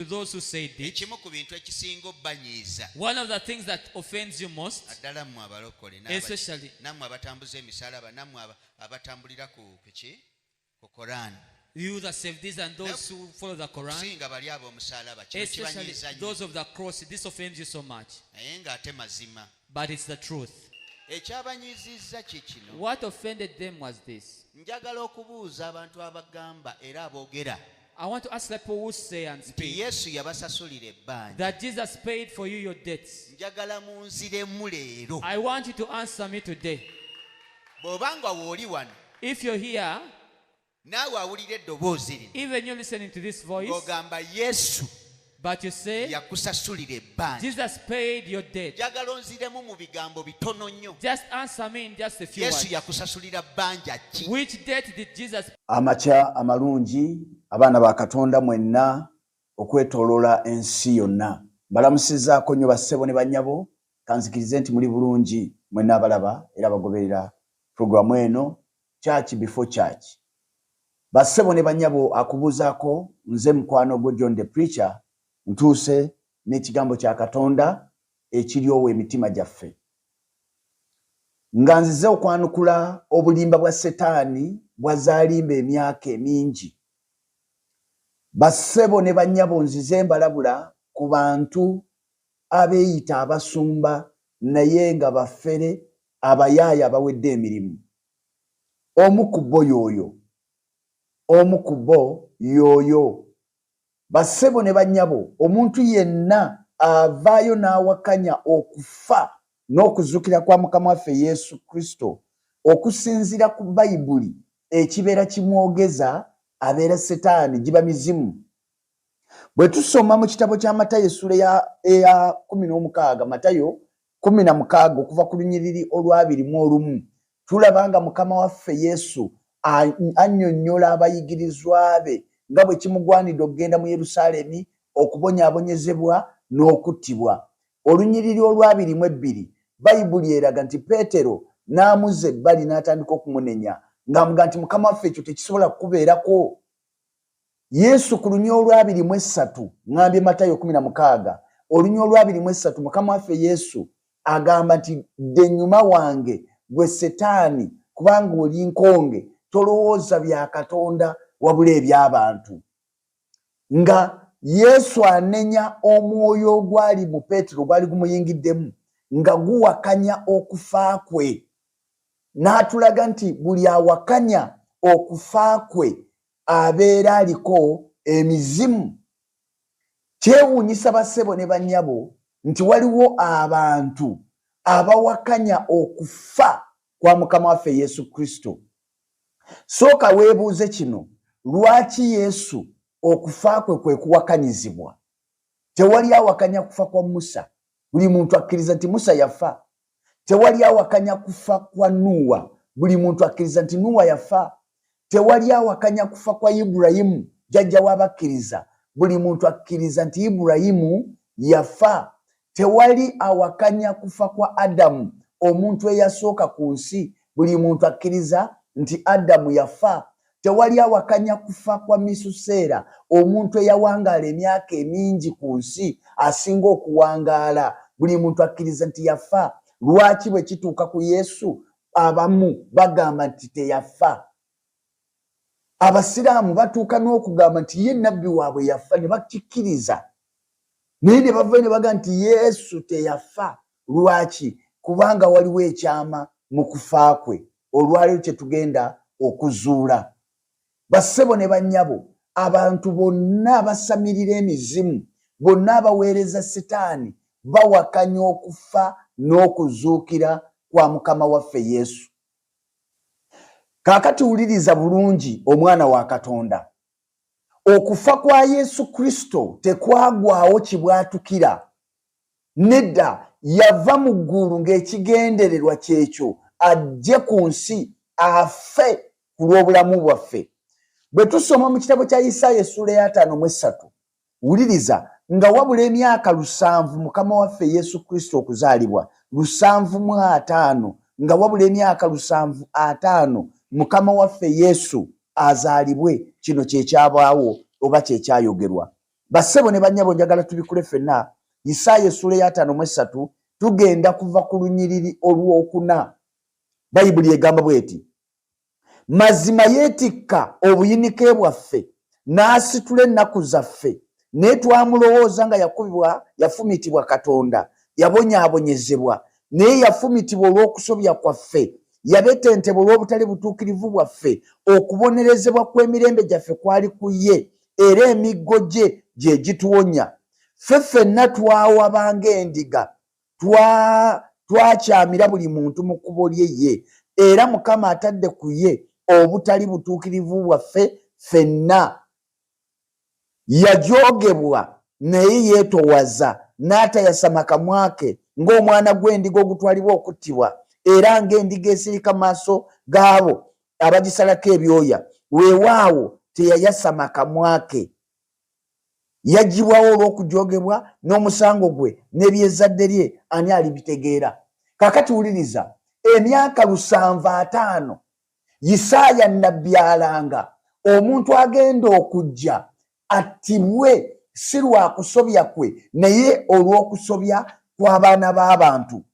to those who said it. ekimu ku bintu ekisinga obbanyiiza One of the things that offends you most, naddala mmwe abalokole n'aba- especially nammwe abatambuza emisalaba nammwe aba- abatambulira ku kuki ku korani you that save this and those who follow the Quran, okusinga bali ab'omusalaba kino especially kibanyiiza nnyo those of the cross, this offends you so much. naye ng'ate mazima But it's the truth. ekyabanyiizizza kye kino What offended them was this. njagala okubuuza abantu abagamba era aboogera I want to ask the people who say and nti speak yesu yabasasulira ebbanja that Jesus paid for you your debts. njagala munziremu leero I want you to answer me today. bw'oba nga wooli wano If you're here, naawe awulira eddoboozi linoogamba yesu yakusasulira ebbanjajagala onziremu mu bigambo bitono nnyo yesu yakusasulira bbanja ki amakya amalungi abaana ba katonda mwenna okwetoloola ensi yonna mbalamusizaako nnyo bassebo ne bannyabo kanzikirize nti muli bulungi mwenna abalaba era abagoberera pulogulaamu eno Church before church. Bassebo ne banyabo akubuzako nze mukwano gwo John the preacher ntuuse n'ekigambo kya Katonda ekiryowa emitima gyaffe. Nga nzize okwanukula obulimba bwa setaani bwazaalimba emyaka emingi. Bassebo ne banyabo nzize mbalabula ku bantu abeeyita abasumba naye nga bafere abayaaya abawedde emirimu omu ku bo yooyo omu ku bo yooyo bassebo ne bannyabo omuntu yenna avaayo n'awakanya okufa n'okuzukira kwa mukama waffe yesu kristo okusinziira ku bayibuli ekibeera kimwogeza abeera setaani giba mizimu bwe tusoma mu kitabo kya matayo essuula eya kumi n'omukaaga matayo Kkumi na mukaaga okuva ku lunyiriri olw'abiri mu olumu, tulaba nga Mukama waffe Yesu annyonnyola abayigirizwa be nga bwe kimugwanidde okugenda mu Yerusaalemi, okubonyaabonyezebwa, n'okuttibwa. Olunyiriri olw'abiri mu ebbiri, Bayibuli eraga nti Peetero n'amuzza ebbali n'atandika okumunenya ng'amugamba nti, Mukama waffe, ekyo tekisobola kukubeerako. Yesu ku lunya olwabiri mu essatu ngambye Matayo kumi na mukaaga olunya olwabiri mu essatu mukama waffe Yesu agamba nti dde enyuma wange gwe setaani kubanga oli nkonge tolowooza bya katonda wabula eby'abantu nga yesu anenya omwoyo ogwali mu peetero gwali gumuyingiddemu nga guwakanya okufa kwe n'atulaga nti buli awakanya okufa kwe abeera aliko emizimu kyewuunyisa bassebo ne bannyabo nti waliwo abantu abawakanya okufa kwa mukama waffe yesu kristo sooka weebuuze kino lwaki yesu okufa kwe kwe kuwakanyizibwa tewali awakanya kufa kwa musa buli muntu akkiriza nti musa yafa tewali awakanya kufa kwa nuuwa buli muntu akkiriza nti nuuwa yafa tewali awakanya kufa kwa iburayimu jajja wabakkiriza buli muntu akkiriza nti iburayimu yafa tewali awakanya kufa kwa adamu omuntu eyasooka ku nsi buli muntu akkiriza nti adamu yafa Tewali awakanya kufa kwa Misuseera, omuntu eyawangaala emyaka emingi ku nsi asinga okuwangaala. Buli muntu akkiriza nti yafa. Lwaki bwe kituuka ku Yesu abamu bagamba nti teyafa? Abasiraamu batuuka n'okugamba nti ye nabbi waabwe yafa ne bakikkiriza, naye ne bavayo ne bagamba nti Yesu teyafa. Lwaki? Kubanga waliwo ekyama mu kufa kwe olwaleero kye tugenda okuzuula. Bassebo ne bannyabo, abantu bonna abasamirira emizimu, bonna abaweereza Sitaani, bawakanya okufa n'okuzuukira kwa Mukama waffe Yesu. Kaakati wuliriza bulungi, omwana wa Katonda. Okufa kwa Yesu Kristo tekwagwawo kibwatukira Nedda, yava mu ggulu ng'ekigendererwa ky'ekyo ajje ku nsi afe ku lw'obulamu bwaffe. Bwe tusoma mu kitabo kya Isaaya essuula ey'ataano mu essatu, wuliriza, nga wabula emyaka lusanvu Mukama waffe Yesu Kristo okuzaalibwa, lusanvu mu ataano, nga wabula emyaka lusanvu ataano Mukama waffe Yesu azaalibwe, kino kye kyabaawo oba kye kyayogerwa. Bassebo ne bannyabo njagala tubikule ffenna Yisaaya essuula ey'ataano mu essatu tugenda kuva ku lunyiriri olw'okuna. Bayibuli egamba bw'eti, Mazima yeetikka obuyinike bwaffe n'asitula ennaku zaffe, naye twamulowooza nga yakubibwa, yafumitibwa Katonda, yabonyaabonyezebwa, naye yafumitibwa olw'okusobya kwaffe, yabetentebwa olw'obutali butuukirivu bwaffe, okubonerezebwa kw'emirembe gyaffe kwali ku ye, era emiggo gye gye gituwonya. Ffe ffenna twawaba ng'endiga, twakyamira buli muntu mu kkubo lye ye, era Mukama atadde ku ye obutali butuukirivu bwaffe ffenna. Yajoogebwa naye yeetowaza, n'atayasama kamwa ke, ng'omwana gw'endiga ogutwalibwa okuttibwa, era ng'endiga esirika mu maaso g'abo abagisalako ebyoya weewaawo teyayasama kamwa ke yagibwawo olw'okujogebwa n'omusango gwe n'ebyezadde lye ani alibitegeera kakati wuliriza emyaka lusanvu ataano yisaaya nabbi alanga omuntu agenda okujja attibwe si lwakusobya kwe naye olw'okusobya kw'abaana b'abantu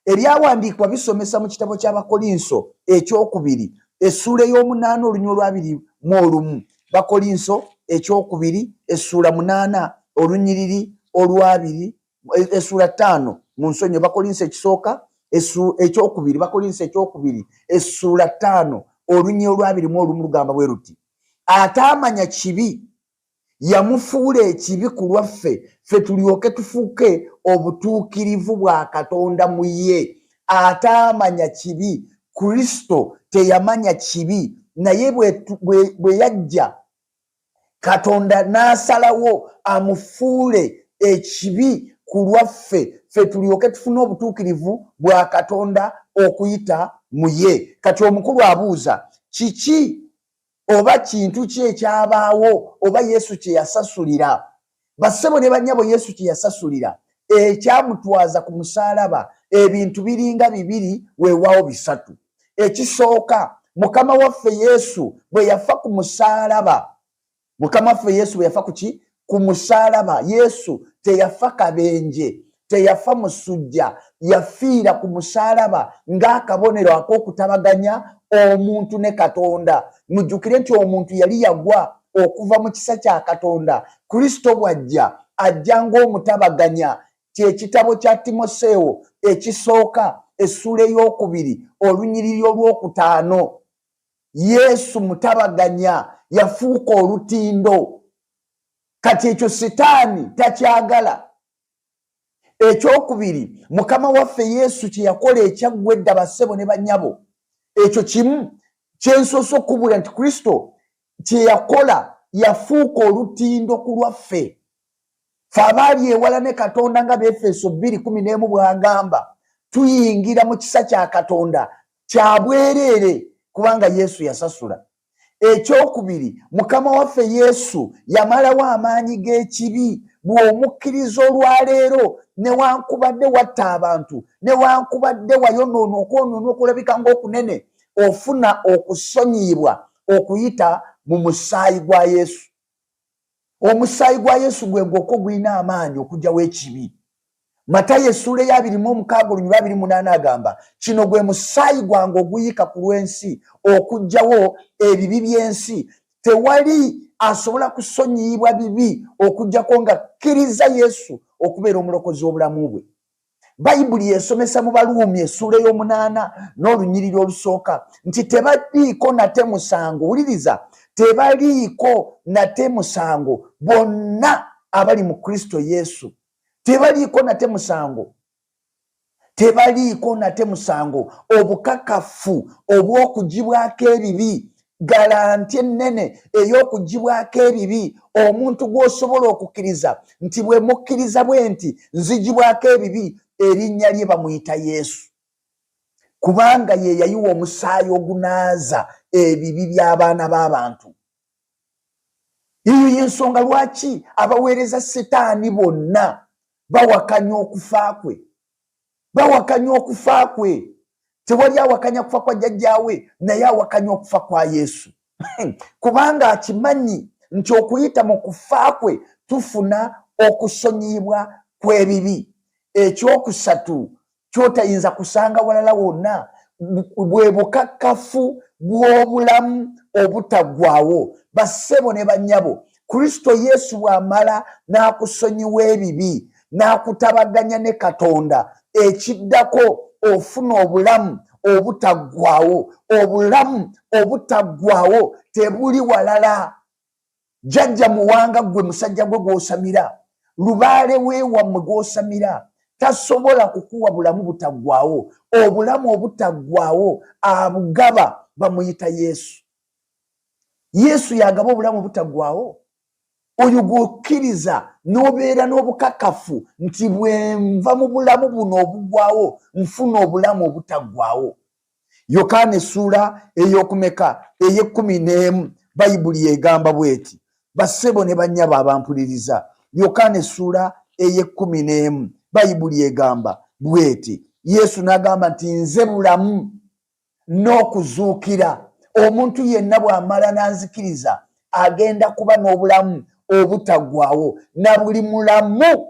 ebyawandiikibwa bisomesa mu kitabo ky'abakolinso ekyokubiri essuula ey'omunaana olunywa olwabiri mu olumu bakolinso ekyokubiri essuula munaana olunyiriri olwabiri essuula ttaano mu nsonyo bakolinso ekisooka ekyokubiri bakolinso ekyokubiri essuula ttaano olunya olwabirimu olumu lugamba bwe luti ataamanya kibi yamufuula ekibi ku lwaffe ffe tulyoke tufuuke obutuukirivu bwa katonda mu ye ataamanya kibi kristo teyamanya kibi naye bwe yajja katonda n'asalawo amufuule ekibi ku lwaffe ffe tulyoke tufune obutuukirivu bwa katonda okuyita mu ye kati omukulu abuuza kiki oba kintu ki ekyabaawo oba yesu kye yasasulira bassebo ne bannyabo yesu kye yasasulira ekyamutwaza ku musaalaba ebintu biringa bibiri weewaawo bisatu ekisooka mukama waffe yesu bwe yafa ku musaalaba mukama waffe yesu bwe yafa ku ki ku musalaba yesu teyafa kabenje teyafa musujja yafiira ku musalaba ng'akabonero ak'okutabaganya omuntu ne katonda mujjukire nti omuntu yali yagwa okuva mu kisa kya katonda kristo bw'ajja ajja ng'omutabaganya kyekitabo kya timoseewo ekisooka essula ey'okubiri olunyiriri olw'okutaano yesu mutabaganya yafuuka olutindo kati ekyo sitaani takyagala ekyokubiri mukama waffe yesu kyeyakola ekyaggwa edda bassebo ne banyabo ekyo kimu kyensoose okukubula nti kristo kyeyakola yafuuka olutindo ku lwaffe fe abaali ewala ne katonda nga befeeso bbiri kumi n'emu bwagamba tuyingira mu kisa kya katonda kyabwereere kubanga yesu yasasula ekyokubiri mukama waffe yesu yamalawo amaanyi g'ekibi bw'omukkiriza olwaleero newankubadde watta abantu newankubadde wayonoona okwonoona okulabika ngaokunene ofuna okusonyiyibwa okuyita mu musaayi gwa yesu omusaayi gwa yesu gwe gwokka ogulina amaanyi okugyawo ekibi matayo essuula eya abiri mu omukaaga olunyuba abiri munaana agamba kino gwe musaayi gwange oguyiika ku lw'ensi okugyawo ebibi by'ensi tewali asobola kusonyiyibwa bibi okugyako nga kkiriza yesu okubeera omulokozi w'obulamu bwe bayibuli yesomesa mu baluumi essuula ey'omunaana n'olunyiriri olusooka nti tebaliiko nate musango wuliriza tebaliiko nate musango bonna abali mu kristo yesu tebaliiko nate musango tebaliiko nate musango obukakafu obw'okugibwako ebibi galanti ennene ey'okugibwako ebibi omuntu gw'osobola okukkiriza nti bwe mukkiriza bwe nti nzigibwako ebibi erinnya lye bamuyita yesu kubanga ye yayiwa omusaayi ogunaaza ebibi by'abaana b'abantu eyo y'ensonga lwaki abaweereza sitaani bonna bawakanya okufa kwe bawakanya okufa kwe tewali awakanya kufa kwa jjajjaawe naye awakanya okufa kwa yesu kubanga akimanyi nti okuyita mu kufa kwe tufuna okusonyiyibwa kw'ebibi ekyokusatu kyotayinza kusanga walala wonna bwe bukakkafu bw'obulamu obutaggwawo bassebo ne bannyabo kristo yesu bw'amala n'akusonyiwa ebibi n'akutabaganya ne katonda ekiddako ofuna obulamu obutaggwawo obulamu obutaggwawo tebuli walala jjajja muwanga ggwe musajja gwe gw'osamira lubaale weewammwe gw'osamira tasobola kukuwa bulamu butaggwawo obulamu obutaggwawo abugaba bamuyita yesu yesu yagaba obulamu butaggwawo oyo gwokkiriza n'obeera n'obukakafu nti bwenva mu bulamu buno obugwawo nfuna obulamu obutaggwawo yokaana essuula ey'okumeka ey'ekkumi n'emu bayibuli egamba bw'eti bassebo ne bannyabo abampuliriza yokaana essuula ey'ekkumi n'emu bayibuli egamba bw'eti yesu n'agamba nti nze bulamu n'okuzuukira omuntu yenna bw'amala n'anzikiriza agenda kuba n'obulamu obutaggwawo na buli mulamu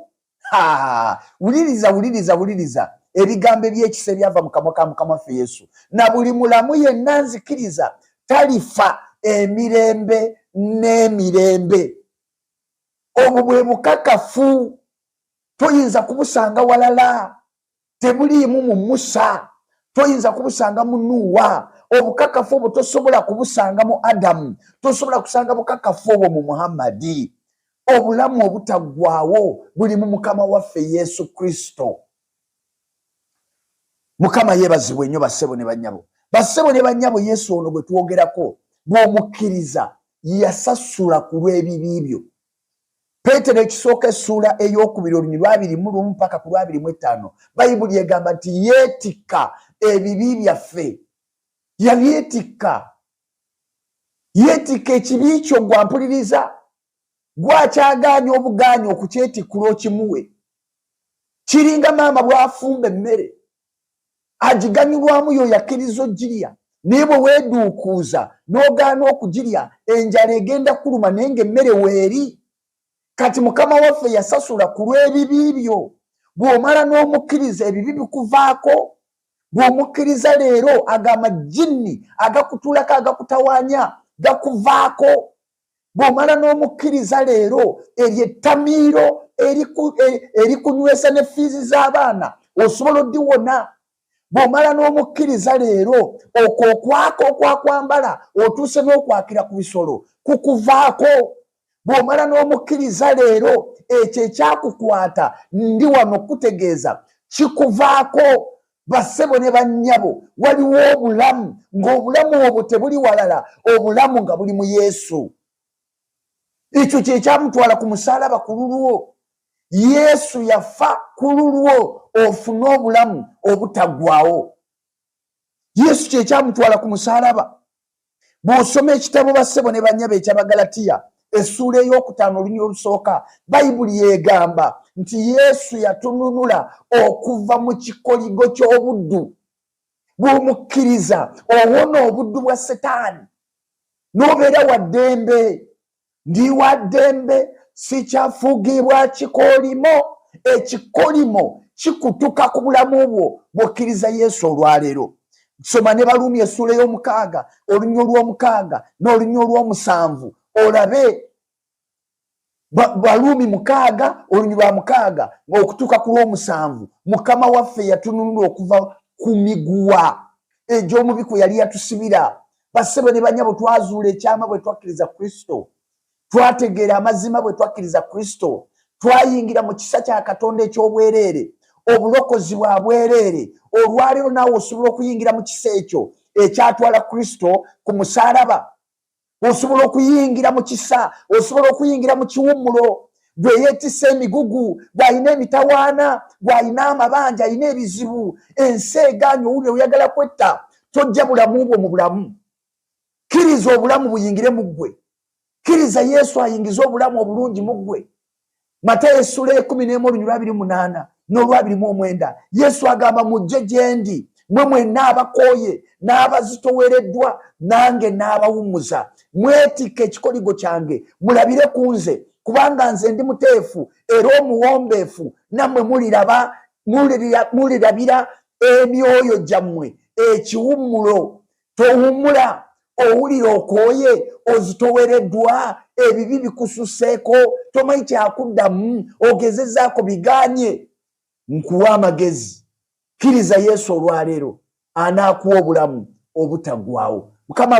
wuliriza wuliriza wuliriza ebigambo ebyekisa ebyava mu kamwa ka mukama waffe yesu na buli mulamu yenna nzikiriza talifa emirembe n'emirembe obwo bwe bukakafu toyinza kubusanga walala tebuliimu mu musa toyinza kubusanga mu nuuwa obukakafu obwo tosobola kubusanga mu adamu tosobola kusanga bukakafu obwo mu muhammadi obulamu obutaggwawo buli mu mukama waffe yesu kristo mukama yebazibwe nnyo bassebo ne bannyabo bassebo ne bannyabo yesu ono gwe twogerako bw'omukkiriza yasasula ku lw'ebibi byo peetero ekisooka essuula ey'okubiri olunyiri lwabiri mu lumu paka ku lwabiri mu ettaano bayibuli egamba nti yeetikka ebibi byaffe yabyetikka yeetikka ekibi kyo gwampuliriza gwakyagaanya obugaanya okukyetikkula okimuwe kiringa maama bw'afumba emmere agiganyulwamu yoyo akkiriza ogirya naye bwe weeduukuuza n'ogaana okugirya enjala egenda kuluma naye ng'emmere weeri kati mukama waffe yasasula ku lw'ebibi byo bw'omala n'omukkiriza ebibi bikuvaako bw'omukkiriza leero ago amajinni agakutuulako agakutawanya gakuvaako bw'omala n'omukkiriza leero eryo ettamiiro erikunywesa e, ne fiizi z'abaana osobola oddiwona bw'omala n'omukkiriza leero okwo okwaka okwakwambala otuuse n'okwakira ku bisolo kukuvaako bw'omala n'omukkiriza leero ekyo ekyakukwata ndi wano okukutegeeza kikuvaako bassebo ne bannyabo waliwo obulamu ng'obulamu obwo tebuli walala obulamu nga buli mu yesu ekyo kyekyamutwala ku musaalaba ku lulwo yesu yafa ku lulwo ofune obulamu obutaggwawo yesu kyekyamutwala ku musaalaba bw'osoma ekitabo bassebo ne bannyabo ekyabagalatiya essuula ey'okutaano olunyira olusooka bayibuli yegamba nti yesu yatununula okuva mu kikoligo ky'obuddu bw'omukkiriza owona obuddu bwa setaani n'obeera wa ddembe ndi wa ddembe sikyafugibwa kikolimo ekikolimo kikutuka ku bulamu bwo bwokkiriza yesu olwaleero soma ne baluumi essuula ey'omukaaga olunya olw'omukaaga n'olunya olw'omusanvu olabe baluumi mukaaga olunya lwa mukaaga okutuuka ku lw'omusanvu mukama waffe yatununula okuva ku miguwa egy'omubi kwe yali yatusibira Bassebo ne banyabo, twazuula ekyama bwe twakkiriza Kristo, twategeera amazima bwe twakkiriza Kristo, twayingira mu kisa kya Katonda eky'obwereere, obulokozi bwa bwereere. Olwaleero naawe osobola okuyingira mu kisa ekyo ekyatwala Kristo ku musaalaba. Osobola okuyingira mu kisa, osobola okuyingira mu kiwummulo. gwe yeetisse emigugu gw'alina emitawaana gw'alina amabanja alina ebizibu ensi egaanyi owulire oyagala kwetta tojja bulamu bwo mu bulamu kkiriza obulamu buyingire mu ggwe kkiriza yesu ayingize obulamu obulungi mu ggwe mata esula ekumi n'emu olunyulwa abiri munaana n'olwabiri mu omwenda yesu agamba mujje gyendi mwe mwenna abakooye n'abazitowereddwa nange n'abawummuza mwetikka ekikoligo kyange mulabire ku nze kubanga nze ndi muteefu era omuwombeefu nammwe muliraba mulirabira emyoyo gyammwe ekiwummulo towummula owulira okooye ozitowereddwa ebibi bikususeeko tomanyi kyakuddamu ogezezaako biganye nkuwa amagezi kkiriza yesu olwaleero anaakuwa obulamu obutagwawo mukama